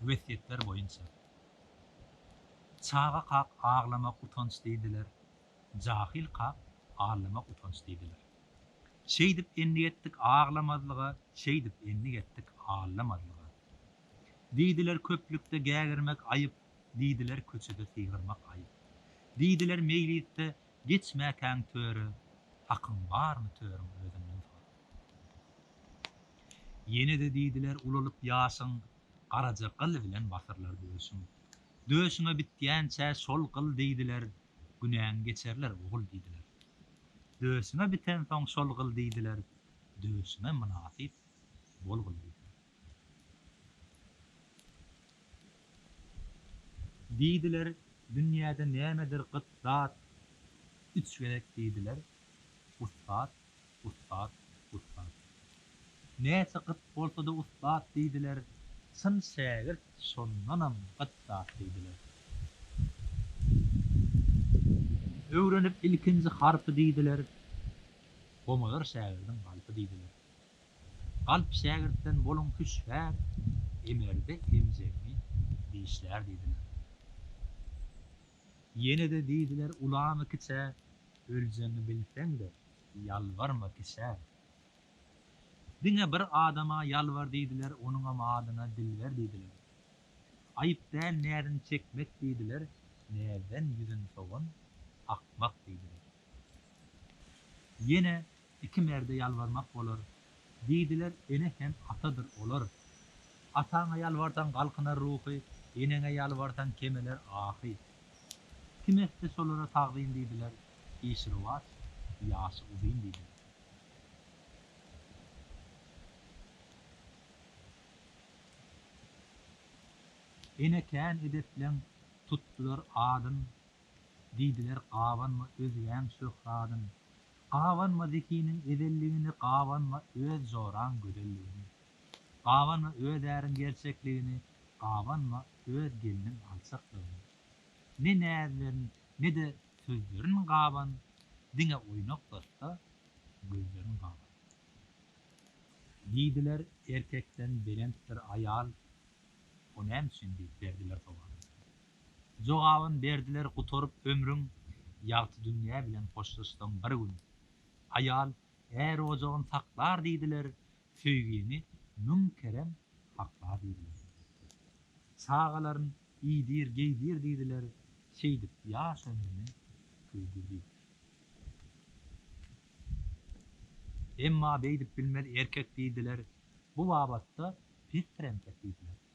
Wesýetler boýunça. Çaga kak aglamak utanç diýdiler, jahyl kak allamak utanç diýdiler. Şeýdip endik etdik aglamazlyga, şeýdip endik etdik allamazlyga. Diýdiler köplükde gägirmek aýyp, diýdiler köçede sygyrmak aýyp. Diýdiler meýlisde geçmäkäň töre, hakyň barmy törüň özünden sor. Ýene-de diýdiler, Ulalyp ýaşyň, garaja gyl bilen basyrlar döşüň. Döşüňe bitýänçä şol gyl diýdiler, günäň geçerler, ogul diýdiler. Döşüňe bitensoň şol gyl diýdiler, döşüňe mynasyp bol gyl diýdiler. Diýdiler, Dünýäde nämedir gyt zat? Üç gezek diýdiler, Ussat, ussat, ussat. Näçe gyt bolsa-da ussat diýdiler, Çyn şägirt şondanam gyt zat diýdiler. Öwrenip ilkinji harpy diýdiler, Gomalar şägirdiň galpy diýdiler. Galp şägirtden boluň hüşgär, emerde emjegiňi dişlär diýdiler. Ýene-de diýdiler ulama kiçä, öljegiňi bilseň-de, ýalbarma kişä. Diňe bir adama ýalbar diýdiler, onuňam adyna Dilber diýdiler. Aýyp däl näziň çekmek diýdiler, näzden ýüzün sowan, akmak diýdiler. Ýene Iki merde ýalbarmak bolar. Diýdiler, Ene hem atadyr olar. Ataňa ýalbarsaň galkynar ruhy, Eneňe ýalbarsaň kemeler ahy. Kim etse şolara tagzym diýdiler, Işi rowaç, ýaşy uzyn diýdiler. Ene kän edepleň tutdular adyn, Diýdiler, Gabanma özgäň şöhradyn, Gabanma Zekiniň ezelligini, Gabanma öz joraň gözelligini, Gabanma öz äriň gerçekligini, Gabanma öz gelniň alçaklygyny. Ne näzlerin, ne-de sözlerin gaban, Diňe oýnak datda gözlerin gaban. Diýdiler, Erkekden belentdir aýal, O näme üçin? diýip, berdiler sowal. Jogabyn berdiler gutaryp ömrüň Ýagty dünýä bilen hoşlaşsaň bir gün Aýal är ojagyn saklar diýdiler Söýgini müň kerem hakla diýdiler Çagalaryn iýdir geýdir diýdiler Şeýdip ýaş ömrüni köýdür diýdiler Emma beýdip bilmez erkek diýdiler Bu babatda pesdir entek diýdiler.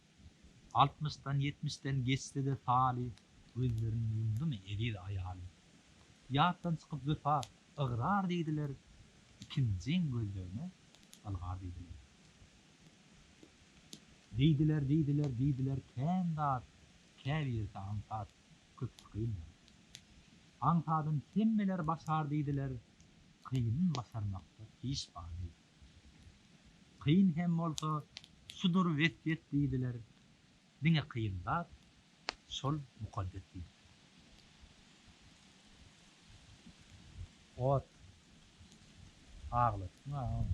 Altmyşdan, ýetmişden geçse-de Sali gözlerini ýumdumy eziz aýaly. Ýatdan çykyp wepa, ygrar diýdiler, ikinjiň gözlegine ylgar diýdiler. Diýdiler, diýdiler, diýdiler kän zat, käbirisi aňsat, köpüsi kyn zat. Aňsadyn hemmeler başar diýdiler, kynyn başarmakda iş bar diýdiler. Kyn hem bolsa şudur wesýet diýdiler, diňe kyn zat şol mukaddes diýip. Ot. Aglatdyň a ony.